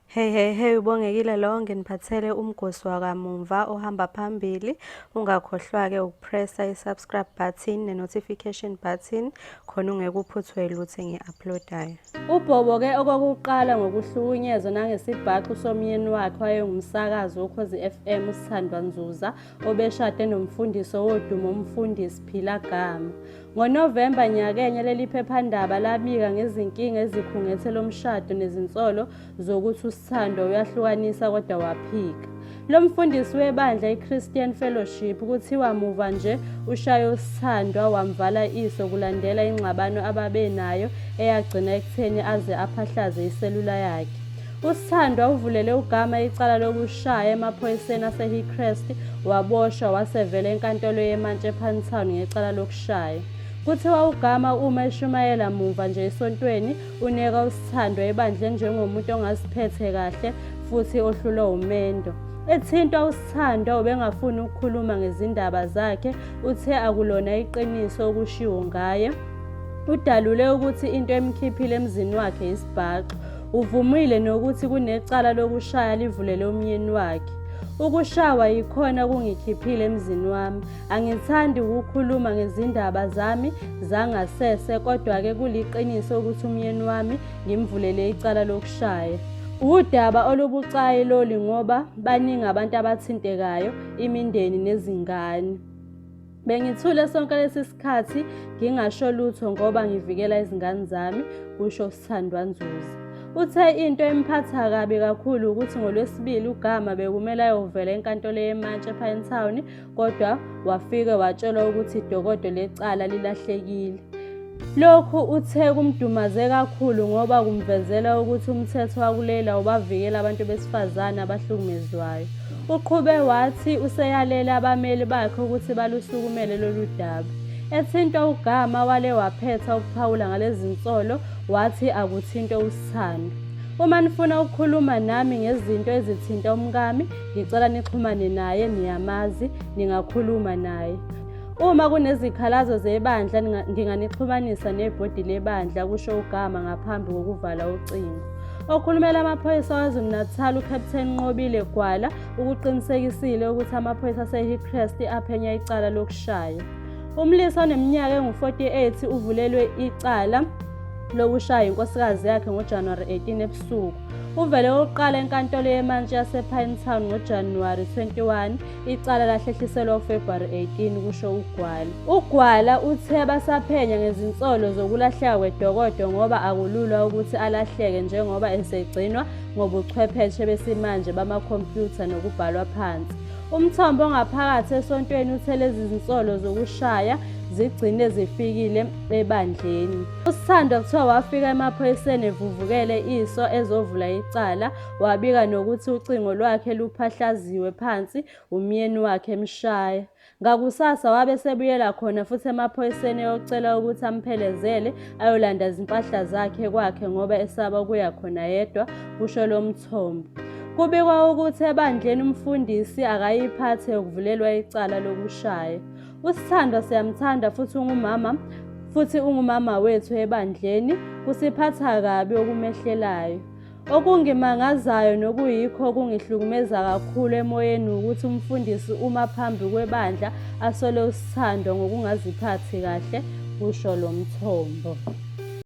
Hey hey hey ubongekile lo nginiphathele umgosi wakamumva ohamba phambili ungakhohlwa ke ukupressa i-subscribe button ne-notification button khona ungekuphuthwe lutho engi-uploadayo ubhobo ke okokuqala ngokuhlukunyezwa nangesibhaxu somyeni wakhe wayengumsakazi wokhozi FM usithandwa nzuza obeshade nomfundisi owodumo umfundisi Phila Gama. NgoNovemba nyakenye leli phephandaba labika ngezinkinga ezikhungethe lo mshado nezinsolo zokuthi usithandwa uyahlukanisa kodwa waphika. Lo mfundisi webandla iChristian Fellowship kuthiwa muva nje ushaye usithandwa wamvala iso kulandela ingxabano ababenayo eyagcina ekutheni aze aphahlaze iselula yakhe. USithandwa uvulele uGama icala lokushaya emaphoyiseni aseHillcrest waboshwa wasevela enkantolo yeMantshi ePantown ngecala lokushaya. Kuthiwa uGama uma eshumayela mumva nje esontweni uneka uSithandwa ebandleni njengomuntu ongaziphethe kahle futhi ohlulwa umendo. Ethintwa uSithandwa ubengafuni ukukhuluma ngezindaba zakhe, uthe akulona iqiniso okushiwo ngaye. Udalule ukuthi into emkhiphile emzini wakhe yisibhaxu. Uvumile nokuthi kunecala lokushaya livulele umyeni wakhe. Ukushawa yikhona kungikhiphile emzini wami. Angithandi ukukhuluma ngezindaba zami zangasese kodwa-ke kuliqiniso ukuthi umyeni wami ngimvulele icala lokushaya. Wudaba olubucayi loli ngoba baningi abantu abathintekayo, imindeni nezingane. Bengithule sonke lesi sikhathi ngingasho lutho ngoba ngivikela izingane zami, kusho uSithandwa Nzuza. Uthe into emphatha kabi kakhulu ukuthi ngoLwesibili uGama bekumele ayovela enkantolo yeMantshi ePine Town kodwa wafike watshelwa ukuthi idokodo lecala lilahlekile. Lokhu uthe kumdumaze kakhulu ngoba kumvezela ukuthi umthetho wakuleli awubavikeli abantu besifazane abahlukumezwayo. Uqhube wathi useyalele abameli bakhe ukuthi balusukumele lolu daba. Ethintwa ugama wale waphetha ukuphawula ngalezi nsolo wathi akuthinte usithando. Uma nifuna ukukhuluma nami ngezinto ezithinta umkami, ngicela nixhumane naye, niyamazi, ningakhuluma naye. Uma kunezikhalazo zebandla nginganixhumanisa nebhodi lebandla kusho uGama ngaphambi kokuvala ucingo. Okhulumela amaphoyisa KwaZulu-Natal uCaptain Nqobile Gwala ukuqinisekisile ukuthi amaphoyisa aseHillcrest aphenya icala lokushaya. Umlisa oneminyaka engu-48 uvulelwe icala lokushaya inkosikazi yakhe ngoJanuwari 18 ebusuku. Uvele okokuqala enkantolo yemantshi yasePinetown ngoJanuwari 21 Icala lahlehliselwa uFebruary 18 kusho uGwala. UGwala uthe basaphenya ngezinsolo zokulahleka kwedokodo ngoba akulula ukuthi alahleke njengoba esegcinwa ngobuchwepheshe besimanje bamakhompyutha nokubhalwa phansi. Umthombo ongaphakathi esontweni uthe lezi zinsolo zokushaya zigcine zifikile ebandleni. USithandwa kuthiwa wafika emaphoyiseni evuvukele iso ezovula icala. Wabika nokuthi ucingo lwakhe luphahlaziwe phansi umyeni wakhe emshaya. Ngakusasa wabe sebuyela khona futhi emaphoyiseni eyocela ukuthi amphelezele ayolanda izimpahla zakhe kwakhe ngoba esaba ukuya khona yedwa, kusho lo mthombo. Kubikwa ukuthi ebandleni umfundisi akayiphathe yokuvulelwa icala lokushaya. Usithandwa siyamthanda futhi ungumama futhi ungumama wethu ebandleni kusiphatha kabi okumehlelayo. Okungimangazayo nokuyikho okungihlukumeza kakhulu emoyeni wukuthi umfundisi uma phambi kwebandla asole usithando ngokungaziphathi kahle, kusho lo mthombo.